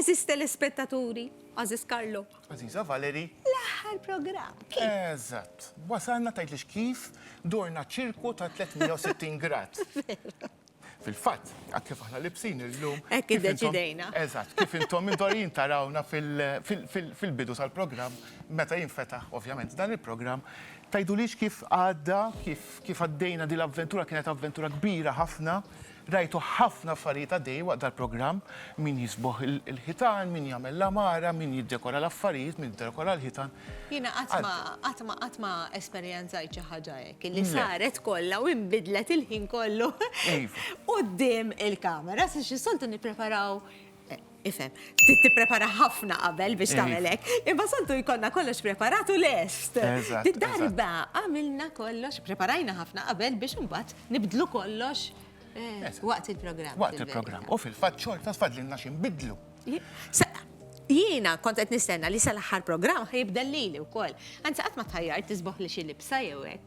Aziz telespettaturi, Aziz Karlo. Aziza Valeri. L-aħħar program. Eżatt. Wasalna tajt li xkif dorna ċirku ta' 360 grad. Fil-fatt, għak kif aħna libsin il-lum. Ekki deċidejna. Eżatt, kif intom indorin tarawna fil-bidu tal-program, meta jinfetaħ, ovvjament, dan il-program, tajdu li kif għadda, kif Kif għaddejna din l-avventura kienet avventura kbira ħafna, rajtu ħafna affarijiet għaddejjin waqt dal-programm, min jisbogħ il-ħitan, min jagħmel l-għamara, min jiddekora l-affarijiet, min iddekora l-ħitan. Jiena qatt ma, qatt ma, qatt ma esperjenzajt xi ħaġa hekk, illi saret kollha u inbidlet il-ħin kollu quddiem il-kamera, għax is-soltu nippreparaw Ifhem, trid tipprepara ħafna qabel biex tagħmel hekk, imma soltu jkollna kollox preparat u lest. Darba għamilna kollox, preparajna ħafna qabel biex imbagħad nibdlu kollox eh, waqt il-programm. Waqt il-programm. U fil-fatt xorta tfadlilna xi nbidlu. Jiena kont qed nistenna li sal-aħħar programm ħajibdel lili wkoll. Anzi qatt ma tħajjar tisboħ li xi libsa jew hekk.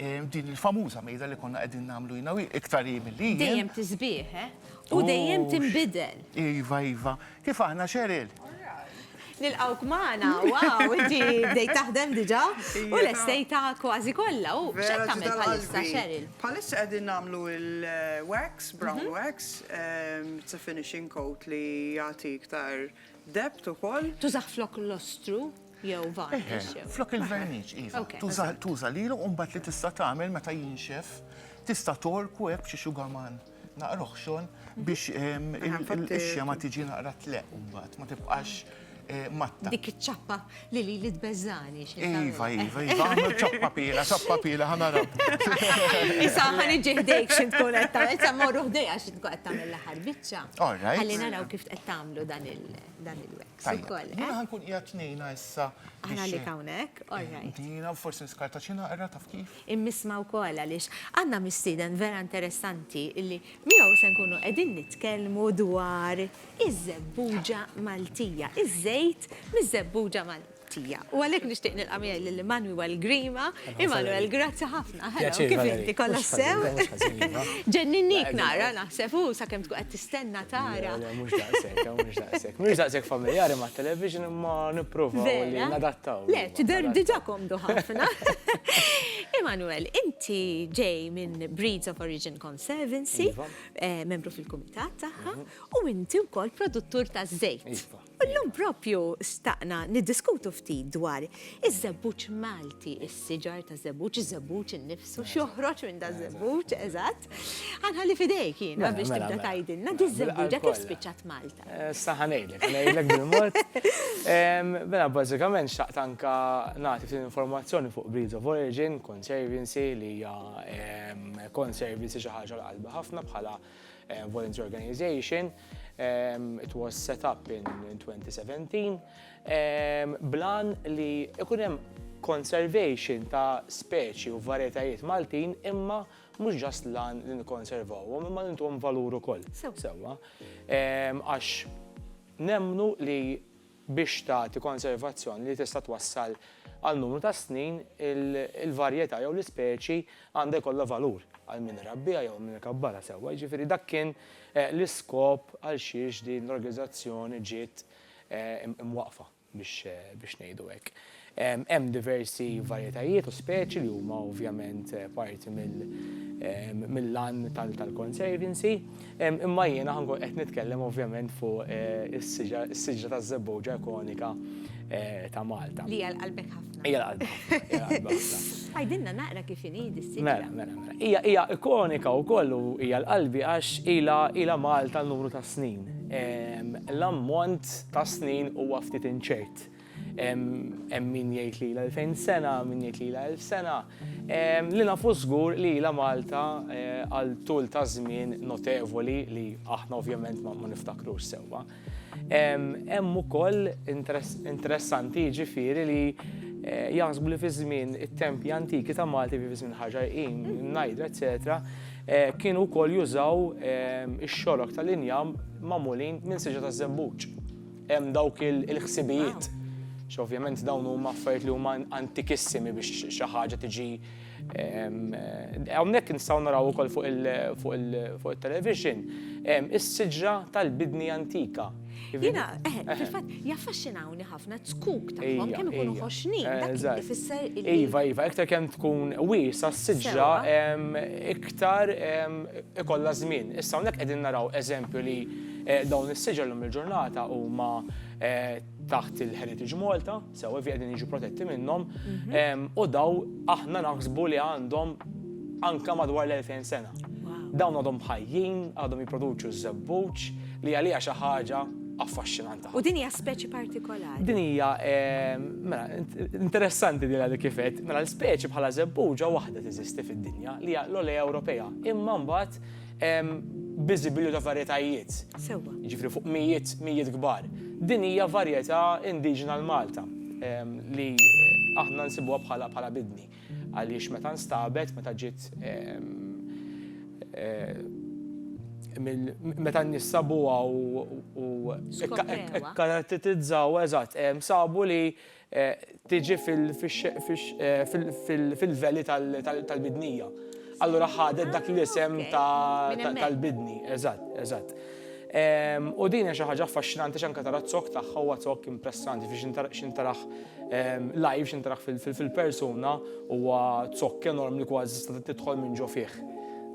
Din il-famuża mejda li konna qegħdin nagħmlu jiena u hi, iktar hi milli jien. Dejjem tiżbigħ, eh? U dejjem tinbidel. Iva, iva. Kif aħna, Cheryl? Nilqgħuk magħna, wow, inti bdejt taħdem diġà u lestejtha kważi kollha. U x'qed tagħmel bħalissa, Cheryl? Bħalissa qegħdin nagħmlu l-wax, brown wax, it's a finishing coat li jagħti iktar depth ukoll. Tużah flok l-ostru? Jew varnish jew. Flok il-verniċ, iva. Tuża, tuża lilu u mbagħad li tista' tagħmel meta jinxef, tista' tgħorku hekk b'xi xugaman naqra oħxon biex il-qixja ma tiġi naqra tleqq mbagħad, ma tibqax eh, matta. Dik iċ-ċappa li li li tbeżżani. Iva, iva, iva, għamlu ċappa pila, ċappa pila, ħana rab. Issa ħan iġi ħdejk xi tkun qed tagħmel, issa morru ħdejha xi tkun qed tagħmel l-aħħar biċċa. All right. Ħalli naraw kif qed tagħmlu dan il- dan il-wax ukoll. Jiena eh? ħankun qiegħed tnejna issa. Aħna li hawnhekk, all eh, right. Dina forsi niskarta xi naqra taf kif. Immisma wkoll għaliex għandna mistieden vera interessanti illi miegħu se nkunu qegħdin nitkellmu dwar iż-żebbuġa Maltija, iż-żejt miż-żebbuġa Maltija. tiegħek. U għalhekk nixtieq nilqa' miegħi lil Emmanuel Grima. Emmanuel, grazzi ħafna. Pjaċir, Valerie. Kif inti, kollha sew? Mhux ħażin, mhux ħażin, iva. Ġenninniek nara, naħseb hu, sakemm tkun qed tistenna tara. Le, le, mhux daqshekk, le, mhux daqshekk. M'iniex daqshekk familjari mat-television imma nipprova li nadattaw. Vera? Le, tidher diġà komdu ħafna. Emmanuel, inti ġej minn Breeds of Origin Conservancy, membru fil-kumitat tagħha, u inti wkoll produttur taż-żejt. U llum proprju xtaqna niddiskutu ftit dwar iż-żebbuġ Malti, is-siġar ta' żebbuġ, iż-żebbuġ innifsu, x'joħroġ minn da' żebbuġ, eżatt. Ħa nħalli f'idejk jiena biex tibda tgħidilna di ż-żebbuġa kif spiċċat Malta. Issa ħa ngħidlek, ħa ngħidlek bil-mod. Mela bażikament xtaqt anke nagħti ftit informazzjoni fuq Breeds of Origin Conservancy li hija Conservancy xi ħaġa għal qalbi ħafna bħala uh, voluntary organization. Um, it was set up in, in 2017. Um, blan li ikun hemm conservation ta' speċi u varjetajiet Maltin imma mhux ġast lan li nikkonservawhom imma li ntuhom valur ukoll. Sewwa. Għax nemnu li biex tagħti konservazzjoni li tista' twassal għal numru ta' snin, il-varjetà jew l-ispeċi għandha jkollha valur għal min irabbiha jew min ikabbarha sewwa. Jiġifieri dak kien l-iskop għal xiex din l-organizzazzjoni ġiet imwaqqfa biex ngħidu hekk. Hemm diversi varjetajiet u speċi li huma ovvjament parti mill-għan tal-conservancy, imma jiena ħa nkun qed nitkellem ovvjament fuq is-siġra taż-żebbowġa ikonika ta' Malta. Li hija l-qalbek ħafna. Hija l-qalbi ħafna. Għidilna naqra kif inhi din is-siġra. Mela, mela, mela. Hija ikonika wkoll u hija l-qalbi għax ilha Malta numru ta' snin. L-ammont ta' snin huwa ftit inċert. Hemm min jgħid li ilha 2000 sena, min jgħid li ilha 1000 sena. Li nafu żgur li ilha Malta għal tul ta' żmien notevoli li aħna ovvjament ma niftakrux sewwa. Hemm ukoll interessanti jiġifieri li jaħsbu li fi żmien it-tempji antiki ta' Malta, fi żmien Ħaġar Qim, Najd, eċċetera, kienu wkoll jużaw ix-xorok tal-injam magħmulin minn siġra taż-żebbuġ. Hemm dawk il-ħsibijiet, xi ovvjament dawn huma affarijiet li huma antikissimi biex xi ħaġa tiġi hawnhekk nistgħu naraw ukoll fuq it-television is-siġra tal-bidni antika. Jiena, eħe, eh, fil-fatt, jaffaxxinawni ħafna t-tkuk tagħhom kemm ikunu ħoxni, dak ifisser illi. Iva, iva, iktar kemm tkun wiesa s-siġra iktar ikollha żmien. Issa hawnhekk qegħdin naraw eżempju li Dawn is-siġar llum il-ġurnata huma taħt il-Heritage Malta, sewa fi qegħdin jiġu protetti minnhom, mhm. u daw aħna naħsbu li għandhom anka madwar l-2000 sena. Dawn għadhom ħajjin, għadhom jipproduċu żebbuġ li għalija xi ħaġa affaxxinanta. U din hija speċi partikolari. Din hija mela interessanti din għalik kifet, mela l-speċi bħala żebbuġa waħda teżisti fid-dinja li hija l-olea Ewropea. Imma mbagħad biżibilju ta' varjetajiet. Sewwa. Jiġifieri fuq mijiet, mijiet kbar. Din hija varjetà indiġena l-Malta li aħna nsibuha bħala bħala bidni għaliex meta nstabet, meta ġiet meta n-nies sabuha u. Skoprewha. Kkarattetizzaw, eżatt, sabu li tiġi fil-veli tal-bidnija. Allura ħadet dak l-isem tal-bidni. Eżatt, eżatt. U din hija xi ħaġa affaxxinanti għax anke tara z-zokk tagħha, huwa zokk impressanti, jiġifieri x'int taraħ live, x'int taraħ fil-persuna, huwa zokk enormi li kważi tista' tidħol minn ġo fih.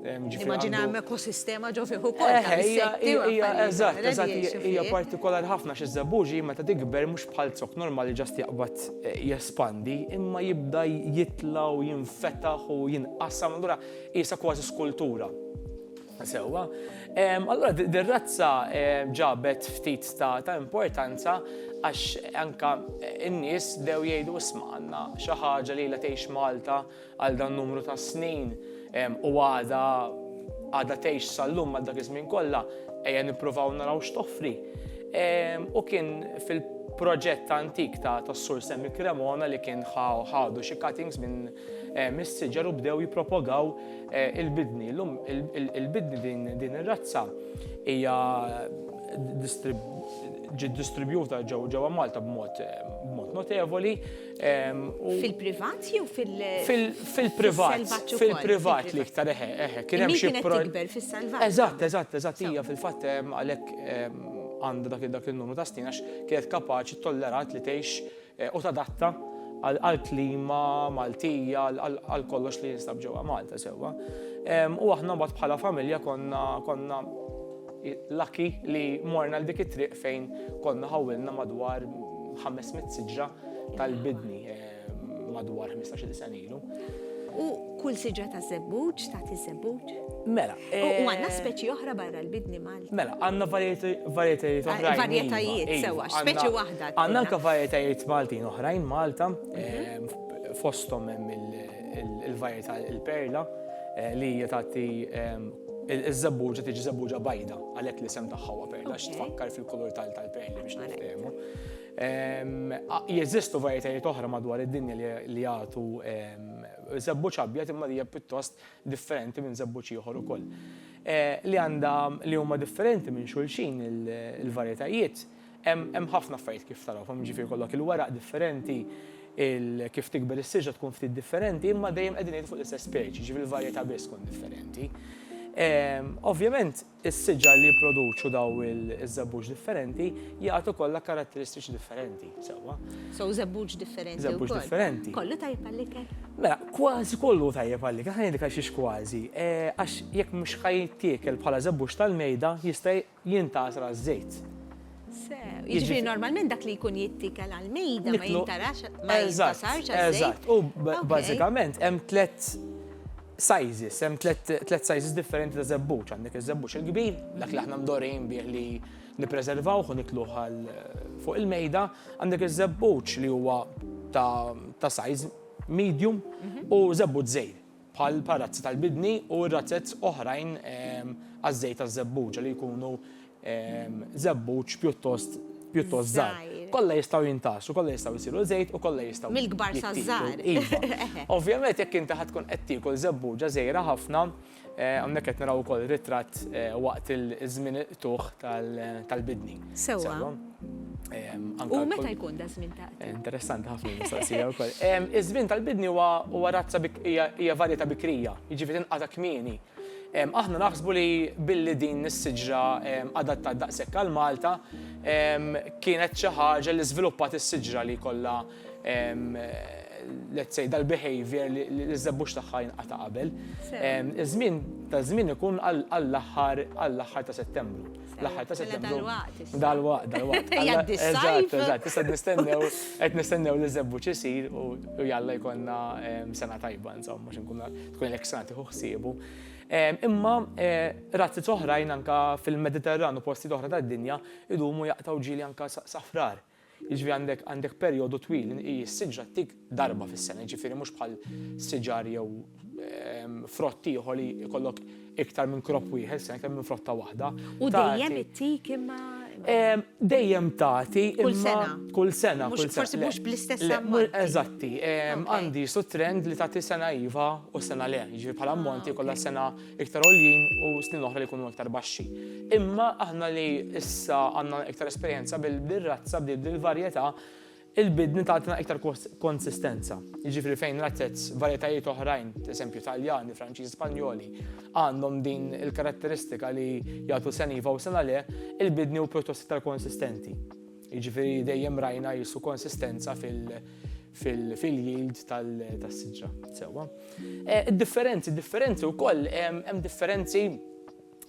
Nimmaġina hemm ekosistema ġo fih ukoll ta' insetti u affarijiet. Eżatt, eżatt, hija partikolari ħafna għax iż-żebbuġi meta tikber mhux bħal zokk normali ġast jaqbad jespandi imma jibda jitla' u jinfetaħ u jinqasam allura qiesha kważi skultura. Sewwa. Allura dir-razza ġabet ftit ta' importanza għax anke n-nies bdew jgħidu isma' għandna xi ħaġa li ilha tgħix Malta għal dan numru ta' snin u għada għada tgħix sal-lum għal dak iż-żmien kollha ejja nippruvaw naraw x'toffri. U kien fil proġett ta' antik ta' tas-sur Semmi Cremona li kien ħadu xi cuttings minn eh, mis-siġar u bdew jippropagaw eh, il-bidni. Lum il-bidni din ir-razza hija ġiet distribjuta ġewwa Malta b'mod eh, notevoli Fil-privat jew fil-privat? Fil-privat li iktar eħe, eħe. Kien hemm xi tikber fis-salvat. Eżatt, eżatt, eżatt hija fil-fatt għalhekk għandha dak dak il-numru ta' snin għax kienet kapaċi tollerat li tgħix eh, u tadatta għall-klima Maltija, għal kollox li jinstab ġewwa Malta sewwa. U aħna mbagħad bħala familja konna konna Lucky li morna l dik it-triq fejn konna ħawwilna madwar ħames mitt siġra tal-bidni madwar ħmistax-il sena ilu. U kull siġra ta' żebbuġ tagħti żebbuġ? Mela. U għandna eh, speċi oħra barra l-bidni Malti. Mela, għandna varjetajiet oħra. Ah, varjetajiet, iva, sewa, speċi waħda. Għandna anke varjetajiet Maltin oħrajn Malta, mhm. eh, fosthom hemm il- il-varjetà il-perla li hija tagħti iż-żebbuġa tiġi żebbuġa bajda għalhekk li sem tagħha huwa perla x'tfakkar fil-kulur tal-perli biex niftehmu. Jeżistu varjetajiet oħra madwar id-dinja li jagħtu żebbuġ abjad imma hija pjuttost differenti minn żebbuġ ieħor ukoll. Li għandha li huma differenti minn xulxin il-varjetajiet Hemm ħafna affarijiet kif taraw, f'hemm jiġifieri jkollok il-weraq differenti, il kif tikber is-siġra tkun ftit differenti imma dejjem qegħdin ngħidu fuq l-istess speċi, jiġifieri l-varjetà biss tkun differenti. Ovvjament is-siġar li jipproduċu dawn iż-żebbuġ differenti jagħtu kollha karatteristiċi differenti, sewwa? So żebbuġ differenti wkoll. Żebbuġ differenti. Kollu tajjeb għall-ikel? Mela, kważi kollu hu tajjeb għall-ikel, ħa ngħidlek għalxiex kważi. Għax jekk mhux ħa jittiekel bħala żebbuġ tal-mejda jista' jintgħasra ż-żejt. Sew, jiġifieri normalment dak li jkun jittikel għall-mejda ma jintarax ma jintasarx għaż-żejt. Eżatt, u bażikament hemm tliet sizes, hemm tliet sizes differenti ta' żebbuġ. Għandek iż-żebbuġ il-kbir, dak li aħna mdorrin bih li nippreservawh u nikluh għal fuq il-mejda, għandek iż-żebbuġ li huwa ta' size medium u żebbuġ żgħir. bħal parazzi tal-bidni u razzez oħrajn għaż-żejt taż-żebbuġa li jkunu żebbuġ pjuttost pjuttost żgħar. Kollha jistgħu jintgħasu, kollha jistgħu jsiru żejt u kollha jistgħu. Mill-kbar saż-żgħar. Iva. Ovvjament jekk inti ħadd tkun qed tiekol żebbuġa żgħira ħafna, hawnhekk qed naraw ukoll ritratt waqt iż-żmien il-qtugħ tal-bidni. Sewwa. U meta jkun da żmien ta' eh, Interessanti ħafna mistoqsija wkoll. Iż-żmien tal-bidni huwa razza hija varjetà bikrija, jiġifieri tinqata' kmieni. Aħna naħsbu li billi din is-siġra adatta daqshekk għal Malta kienet xi ħaġa li żviluppat is-siġra li kollha let's say dal-behavior li ż-żebbux tagħha jinqata' qabel. Iż-żmien ta' żmien ikun għall-aħħar għall-aħħar ta' Settembru. L-aħħar ta' settembru. Dal-waqt. Dal-waqt, dal-waqt. Jaddi s-sajf. Eżatt, issa nistennew, qed nistennew li zebbu ċisir u jalla jkollna ehm, sena tajba, insomma, mhux nkun tkun l-ek sena tieħu ħsiebu. Ehm, imma eh, razzi oħrajn anka fil-Mediterran u posti oħra tad-dinja idumu jaqtaw ġili anka safrar. Jiġifieri għandek għandek perjodu twil, hi s-siġra ttik darba fis-sena, jiġifieri mhux bħal siġar jew frott ieħor li jkollok iktar minn crop wieħed f'sena, iktar minn frotta waħda. U dejjem ittik imma Dejjem tagħti kull sena. Kull sena, kull sena. Forsi mhux bl-istess ammont. Eżatti, għandi su trend li tagħti sena iva u sena le, jiġifieri bħala ammonti kollha sena iktar għoljin u snin oħra li jkunu iktar baxxi. Imma aħna li issa għandna iktar esperjenza bil-razza bdiet bil-varjetà il-bidni tagħtina iktar konsistenza. Jiġifieri fejn razzezz varjetajiet oħrajn, eżempju Taljani, Franċiżi, Spanjoli, għandhom din il-karatteristika li jagħtu seniva u sena le, il-bidni u pjuttost iktar konsistenti. Jiġifieri dejjem rajna jisu konsistenza fil- fil-yield tas-siġra. Sewwa. Id-differenzi, differenzi wkoll, hemm differenzi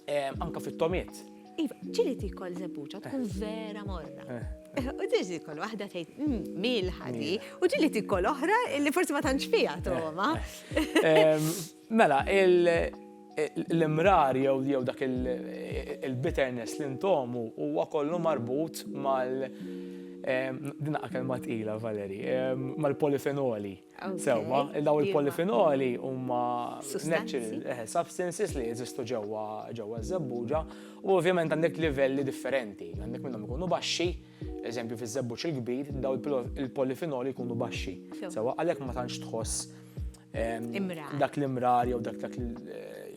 anke fit-tomiet. Iva, ġieli tikol żebbuġa tkun vera morra. Eh. U ġieli tikol waħda tgħid mm, milħa di, u ġieli tikol oħra li forsi ma tantx fiha toma. Eh. Mela, l-imrar jew dak il-bitterness li ntomu huwa kollu marbut mal- din daqqa kelma tqila, Valerie, mal-polifenoli. Sewwa, daw il-polifenoli huma natural substances li jeżistu ġewwa ż-żebbuġa u ovvjament għandek livelli differenti. Għandek minnhom ikunu baxxi, eżempju fiż-żebbuġ il-kbir, daw il-polifenoli jkunu baxxi. Sewwa, għalhekk ma tantx tħoss dak l-imrar jew dak dak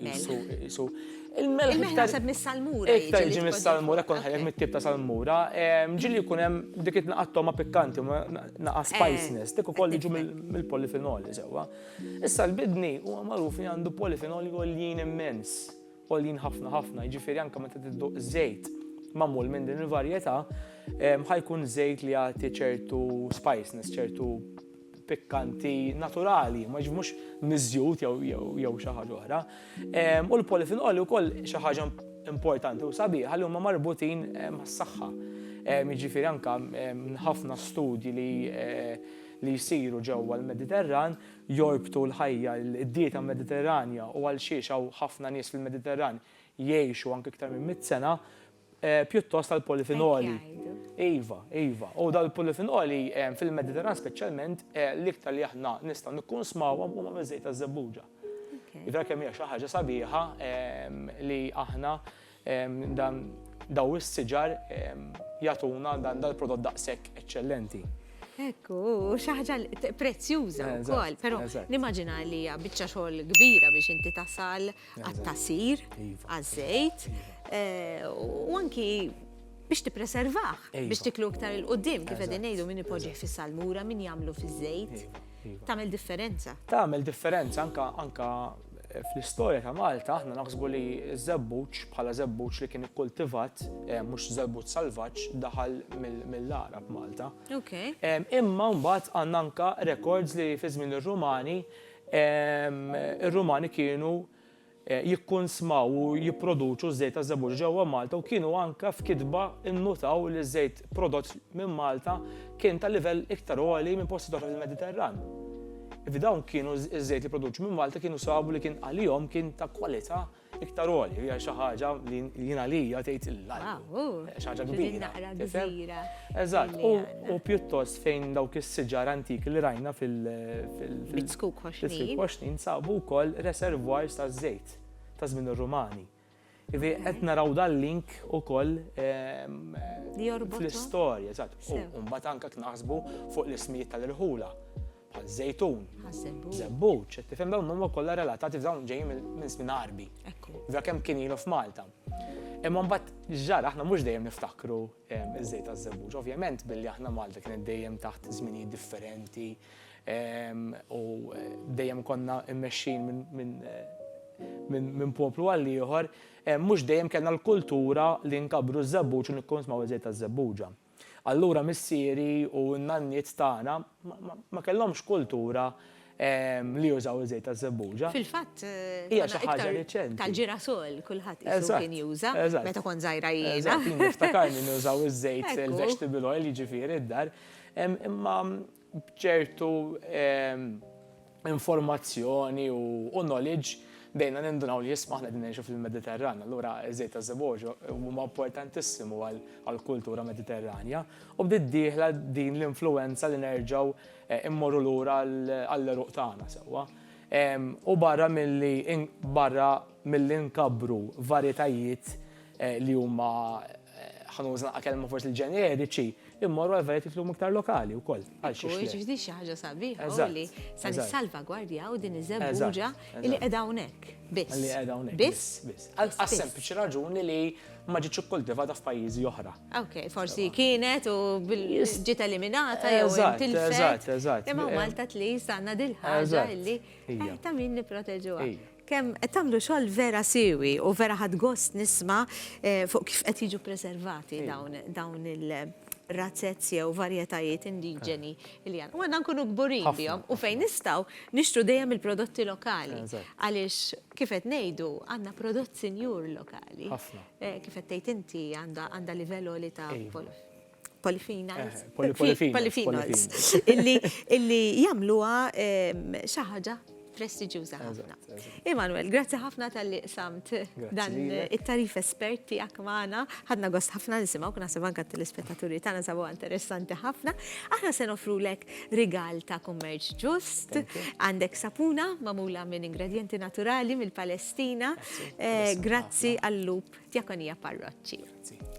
jisu. Il-melħ. il naħseb mis-salmura. Iktar ġi mis-salmura, kon ħajjek mit-tip ta' salmura. Ġili jkun hemm dik it-naqattoma pikkanti, naqa' eh, spiciness, dik ukoll ġu mill-polifenoli sewwa. Issa l-bidni huwa magħruf li għandu polifenoli għoljin immens, għoljin ħafna ħafna, jiġifieri anke meta tidduq żejt mamul minn din il-varjetà, ħajkun żejt li jagħti ċertu spiciness, ċertu pikkanti naturali, ma jiġifieri mhux miżjud jew xi ħaġa oħra. U l-polifinoli wkoll xi ħaġa importanti u sabiħa li huma marbutin mas-saħħa. Jiġifieri anke ħafna studji li li jsiru ġewwa l-Mediterran jorbtu l-ħajja, id-dieta Mediterranja u għal xiex hawn ħafna nies fil-Mediterran jgħixu anke iktar minn mitt sena, pjuttost tal-polifinoli. Iva, iva. U dawn il-polifinoli fil-Mediterran speċjalment l-iktar li aħna nistgħu nikkunsmawhom huma miż-żejt taż-żebbuġa. Jidher kemm hija xi ħaġa sabiħa li aħna dan daw is-siġar jagħtuna dan dal-prodott daqshekk eċċellenti. Ekku, xi ħaġa prezzjuża wkoll, però nimmaġina li hija biċċa xogħol kbira biex inti tasal għat-tasir, iva. għaż-żejt, eh, u anki biex tippreservah, iva. biex tiklu iktar il-qoddim, kif qegħdin ngħidu min ipoġġi fis-salmura, min jagħmlu fiż-żejt. Iva, Tagħmel differenza. Tagħmel differenza anka anka eh, fl-istorja ta' Malta aħna naħsbu li żebbuċ bħala żebbuċ li kien ikkultivat eh, mhux żebbuċ salvaġġ daħal mill-Arab Malta. Imma mbagħad għandna anka rekords li fi żmien ir-Rumani Ir-Rumani kienu jikkunsmaw u jipproduċu ż-żejt taż-żebbuġa ġewwa Malta u kienu anke f'kitba nnutaw li ż-żejt prodott minn Malta kien ta' livell iktar għoli minn postijiet oħra fil-Mediterran. F'dawn kienu ż-żejt li jipproduċu minn Malta kienu sabu li kien għalihom kien ta' kwalità iktar għoli, hija xi ħaġa li jien għalija tgħid l-albu. Xi ħaġa kbira. Eżatt, u pjuttost fejn dawk is-siġar antiki li rajna fil-Bitzkuk Koxnin sabu wkoll reservoirs ta' żejt ta' żmien ir-Rumani. Ivi qed naraw dal-link ukoll ehm, fl-istorja, eżatt. U mbagħad anke naħsbu fuq l-ismijiet tal-irħula. bħal żejtun, żebbuġ, qed tifhem dawn huma kollha relatati f'dawn ġejjin minn żmien għarbi. Vera kemm kien ilu f'Malta. Imma mbagħad ġara aħna mhux dejjem niftakru ehm, iż-żejt taż-żebbuġ. Ovvjament billi aħna Malta kienet dejjem taħt żminijiet differenti ehm, u eh, dejjem konna mmexxin minn eh, poplu għal ieħor, ehm, mhux dejjem kellna l-kultura li nkabru ż-żebbuġ u nikkonsmaw iż-żejt taż-żebbuġa. Allura missieri u n-nanniet tagħna ma kellhomx kultura li jużaw iż-żejt taż-żebbuġa. Fil-fatt, tagħna iktar tal-ġirasol kulħadd qisu kien juża meta kont żgħira jiena. Eżatt, jien niftakar li nużaw iż-żejt il-vegetable oil jiġifieri d-dar. Imma b'ċertu informazzjoni u knowledge bdejna nindunaw li jisma' aħna qegħdin ngħixu fil-Mediterran, allura ż-żejt ta' żebogħ huma importantissimu għall-kultura Mediterranja u bdiet dieħla din l-influwenza li nerġgħu mmorru lura għall-għeruq tagħna sewwa. U barra milli barra milli nkabbru varjetajiet li huma ħa nuża naqa' kelma forsi l-ġeneriċi, immorru għal varjetà tlum iktar lokali wkoll. Għal xi ħaġa. Ġifdi xi ħaġa sabiħa li sa nissalvagwardjaw din iż-żebbuġa li qiegħda hawnhekk. Biss. Li qiegħda hawnhekk. Biss. Biss. Għal sempliċi raġuni li ma ġietx ikkultivata f'pajjiżi oħra. Ok, forsi kienet u ġiet eliminata jew tilfet. Eżatt, eżatt. Imma Malta tli sanna dil-ħaġa li ta' min nipproteġuha. Kemm qed tagħmlu xogħol vera siewi u vera ħadt gost nisma' fuq kif qed jiġu preservati dawn il razzez jew varjetajiet indiġeni li għandna. U għandna nkunu kburin bihom u fejn nistgħu nixtru dejjem il-prodotti lokali għaliex kif qed ngħidu għandna prodott sinjur lokali. Kif qed tgħid inti għandha livell għoli ta' polyphenols. Polyphenols. Illi jamluwa xaħġa prestiġjuża ħafna. Emanuel, grazzi ħafna tal-li samt dan it-tarif espert tiegħek magħna. Ħadna gost ħafna nisimgħu kuna se banka tal-ispettaturi tagħna sabu interessanti ħafna. Aħna se nofrulek rigal ta' kummerċ ġust, għandek sapuna magħmula minn ingredienti naturali mill-Palestina. Eh, grazzi għall-lup Diakonia Parroċċi.